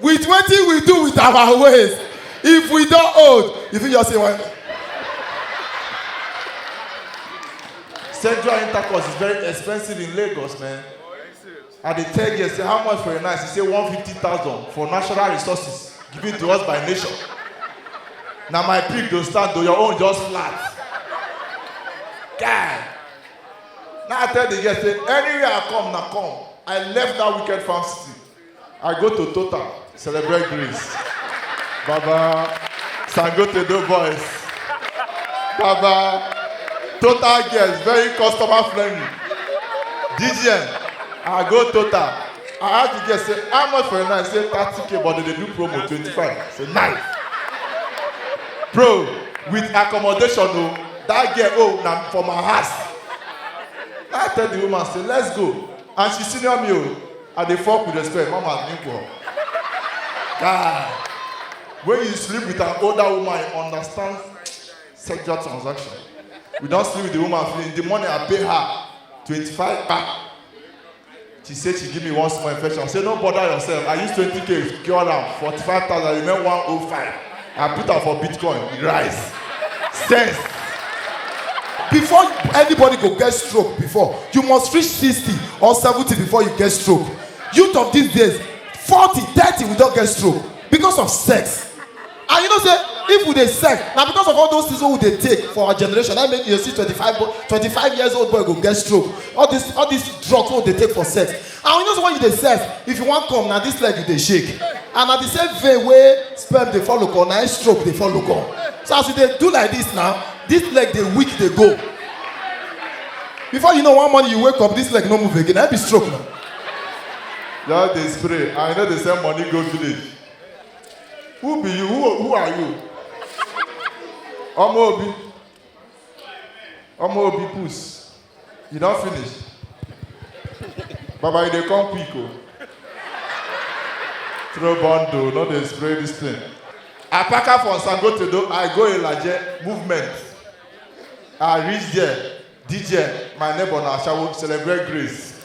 with wetin we do with our ways if we don old you fit just say one. Sexual intercourse is very expensive in Lagos, man. I dey tell you, say how much for a night? You say one fifty thousand for natural resources given to us by nature. Na my pick go stand o, your own just flat. Guy, now I tell the girl say anywhere I come, na come. I left that wicked farm city. I go to Total, celebrate Greece. Baba, Sangote do boys. Baba, Total girls, very customer friendly. DGN, I go Total. I ask the girl, say, how much for a night? Say, 30k, but they dey do promo, 25. Say, nice. Bro, with accommodation, oh, that girl, oh, na for my house. I tell the woman, say, let's go. And she senior me, oh. I dey fuck with respect, mama nigga. Guy, when you sleep with an older woman, you understand sexual transaction. We don sleep with the woman finish. The money I pay her, 25 kpa. She say she give me one small infection. I say no bother yourself. I use 20k cure am, 45,000 remain 105. I put am for bitcoin, e rise. Sense. Before anybody go get stroke before, you must reach 60 or 70 before you get stroke. Youth of these days, 40, 30 we don get stroke because of sex. And you know say if we dey sex, na because of all those things wey we dey take for our generation, na make you dey see 25 boy, 25 years old boy go get stroke. All this all these drugs wey we dey take for sex. and you know say when you dey sef if you wan come na this leg you dey shake and na the same vein wey sperm dey follow come na im stroke dey follow come so as you dey do like this now this leg dey weak dey go before you know one morning you wake up this leg no move again na im be stroke na Just dey spray and you no dey send money go village. Who be you? Who, who are you? Ọmọ Obi. Ọmọ Obi puss. You don finish? Baba, you dey come quick o. Throw bundle, no dey spray this thing. Apaka from Sangotedo, I go Ilaje, movement. I reach there, DJ, my neighbor na Ashawo, celebrate grace.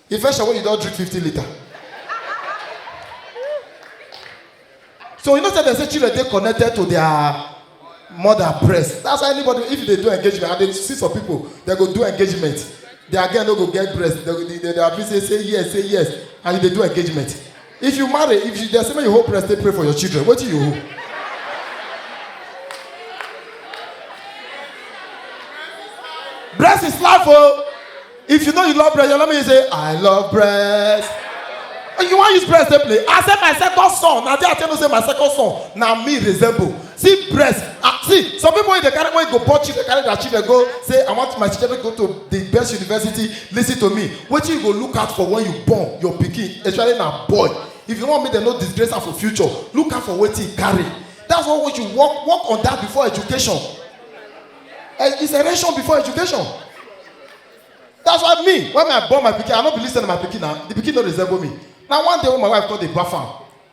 Infection when you don't drink 50 liter. So you know say they say children dey connected to their mother breast. That's why anybody if they do engagement and they see some people they go do engagement. Their girl no go get breast. They, they, they, they are busy say yes, say yes and they do engagement. if you marry if you dey say make you hold breast take pray for your children wetin you hold. breast is life o oh. if you know you love breast your mama you say i love breast you wan use breast take play i say my second son na there i tell you say my second son na me resemble see breast ah see some people wey dey carry wey go born children carry their children go say i want my children go to the best university lis ten to me wetin you go look out for when you born your pikin especially na boy if you wan make dem no disgrace am for future look out for wetin e carry that's why we should work work on that before education eh, it's erection before education that's why me when i born my pikin i no believe say na my pikin na the pikin no resemble me na one day when my wife come dey baff am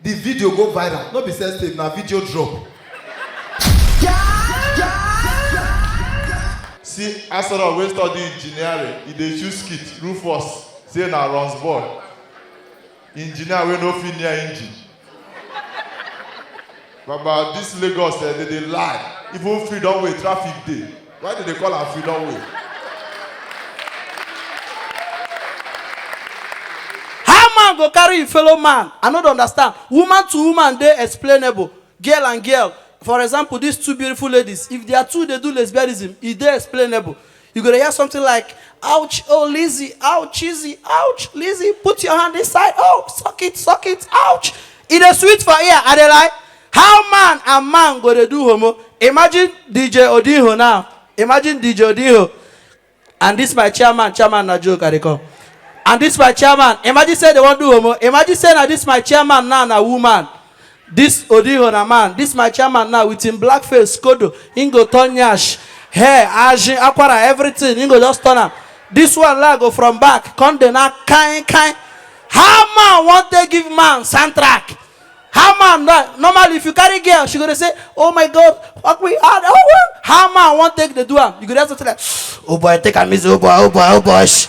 The video go viral, no be sex tape, na video drop. See Asoro wey study engineering, e dey choose skit, Rufus say na runs boy. Engineer wey no fit near engine. Baba, this Lagos eh, they dey lie. Even freedom way traffic dey. Why did they call am freedom way? How man go carry im fellow man? I no dey understand. Woman to woman dey explainable. Girl and girl, for example, these two beautiful ladies, if their two dey do lesbianism, e dey explainable. You go to hear something like, ouch, oh Lizzie, ouch, Lizzie, ouch, Lizzie, put your hand inside, oh, suck it, suck it, ouch. It is sweet for ear, and they like, how man and man go to do homo? Imagine DJ Odinho now. Imagine DJ Odinho. And this my chairman, chairman na joke, I come. And this my chairman, imagine say they won't do homo. Imagine say na this my chairman now na woman. This Odiho na man, this my chairman now with him black face, skodo, him go turn nyash, hair, ajin, akwara, everything, him go just turn am. This one la go from back, come dey na kind kind. How man wan take give man soundtrack? How man na normally if you carry girl, she go dey say, oh my god, fuck me, ah, oh, oh. how man wan take dey do am? You go dey something like, oh boy, take am easy, oh boy, oh boy, oh boy. shh."